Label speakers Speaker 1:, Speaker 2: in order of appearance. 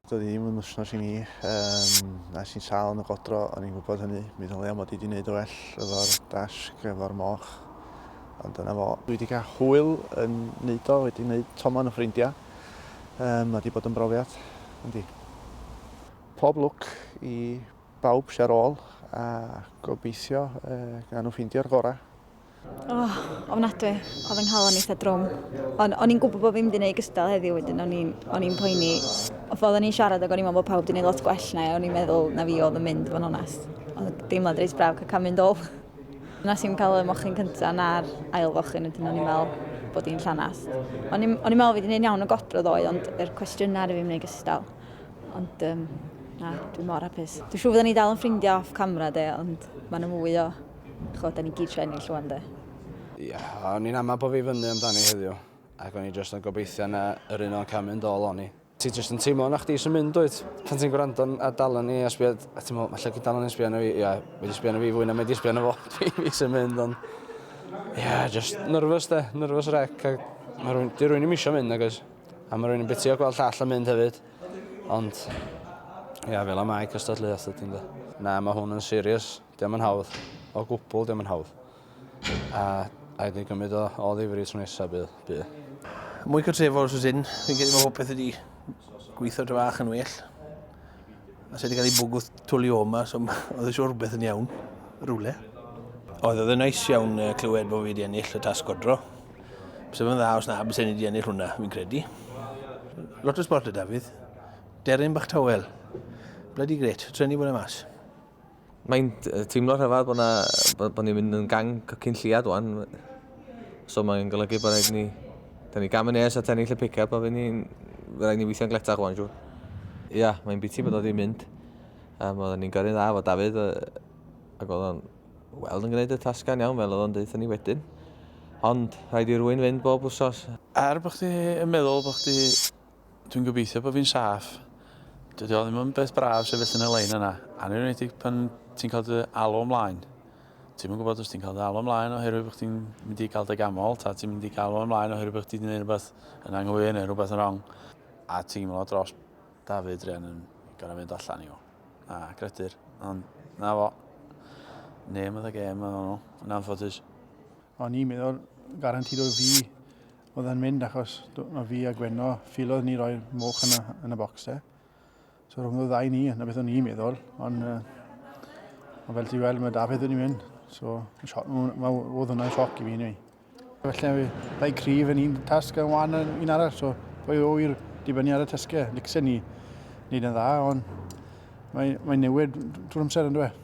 Speaker 1: Doedd hi ddim yn wythnos i mi. Um, nes i'n sal yn y godro, o'n i'n gwybod hynny. Mi ddylia mod i wedi gwneud o well efo'r dasg, efo'r moch. Ond dyna fo. Dwi wedi cael hwyl yn neud o, wedi neud tomon o ffrindiau. Um, mae wedi bod yn brofiad, yndi. Pob lwc i bawb sy'n ôl a gobeithio uh, gan nhw ffeindio'r gorau. Oh,
Speaker 2: ofnadwy. Oedd fy nghalon eitha drwm. Ond o'n i'n gwybod bod fi'n mynd i wneud gystal heddiw wedyn, o'n i'n o'n i'n poeni. Oedd oedden ni'n siarad ac o'n i'n meddwl bod pawb wedi gwneud lot gwell na i, o'n i'n meddwl na fi oedd yn mynd, fo'n onest. Oedd deimlad reis braf cael cael mynd ôl. Nes i'n cael y mochyn cyntaf na'r ail fochyn, wedyn o'n i'n meddwl bod hi'n llanas. O'n i'n o'n i'n meddwl fi wedi gwneud iawn o godro ddoe, ond yr cwestiynau ar y fi'n gwneud gystal. Ond um, na, dwi'n mor hapus. Dwi'n siŵr fydden ni dal yn ffrindiau off camera de, ond mae'n mwy o Ch'od 'dan ni gyd isio ennill rŵan 'de? Ia,
Speaker 3: o'n i'n ama bo fi fyny amdani heddiw ac o'n i jyst yn gobeithio na yr un o'n ca'l mynd all on i. Ti jyst yn teimlo na chdi sy'n mynd dwyt? Pan ti'n gwrando yn- ar Dal Arna I a sbio a ti'n me'wl 'falle gei Dal Arna I sbio arno fi ia mae 'di sbio arno fi fwy na mae 'di sbio arno fo fi fi sy'n mynd ond ia jyst nervous 'de nervous wreck a ma' rywun 'di rywun 'im isio mynd nag oes? A ma' rywun yn bitio gweld llall yn mynd hefyd ond ia fel y mae cystadleuaeth ydi ynde? Na ma' hwn yn serious. Dio'm yn hawdd. O gwbwl dio'm yn hawdd. A rhaid ni gymryd o o ddifri tro nesa bydd. Bydd. Mwy
Speaker 4: cartrefol os oes hyn. Fi'n credu mae popeth wedi gweithio dra fach yn well. A sydd wedi cael ei bwgwth twli o yma, so oedd eisiau rhywbeth yn iawn, rhywle. Oedd oedd yn nais iawn clywed bod fi wedi ennill y tasg godro. Bysa fe'n dda os na, bysa ni wedi ennill hwnna, fi'n credu. Lot o sport y Dafydd. Deryn bach tawel. Bloody great. Treni bod e mas. Mae'n
Speaker 5: teimlo rhyfedd bod, na, bod, bod ni'n mynd yn gang cycyn lliad wan. So mae'n golygu bod rhaid ni... Da ni gam yn nes at ennill y pick-up a fe ni, rhaid ni weithio'n gletach wan, siw. Ia, yeah, mae'n biti bod o wedi mynd. Um, oedden ni'n gyrru'n dda fo Dafydd, uh, ac oedd o'n weld yn gwneud y tasgan iawn fel oedd o'n deutha ni wedyn. Ond rhaid i rwy'n fynd bob wsos. Er bod chdi
Speaker 6: yn meddwl bod chdi Dwi'n gobeithio bod fi'n saff. Dydy o ddim yn beth braf sefyll yn y lein yna, anniwneedig pan ti'n cael dy alw ymlaen. Ti'n yn gwybod os ti'n cael dy alw ymlaen oherwydd bod chdi'n mynd i gael dy gamol, ta ti'n mynd i gael o ymlaen oherwydd bod chdi'n gwneud rhywbeth yn anghywir neu rhywbeth yn wrong. A teimlo dros David Rhian yn gorau mynd allan i o. A credu'r, ond na fo. Name of the game yn anffodus. O'n i'n
Speaker 1: meddwl garantid o fi Oedd e'n mynd achos mae fi a Gwenno ffilodd ni roi'r moch yna yn y bocs e. So rhwng y ddau ni, na beth o'n i'n meddwl, ond uh, ond fel ti weld mae Dafydd wedi mynd, so mae oedd hwnna'n sioc i fi ni. Felly mae dau cryf yn un tasg yn wan yn un arall, so pwy o i'r dibynnu ar y tasgau. E. Licsen ni wneud yn dda, ond mae'n mae newid drwy'r amser yn dweud.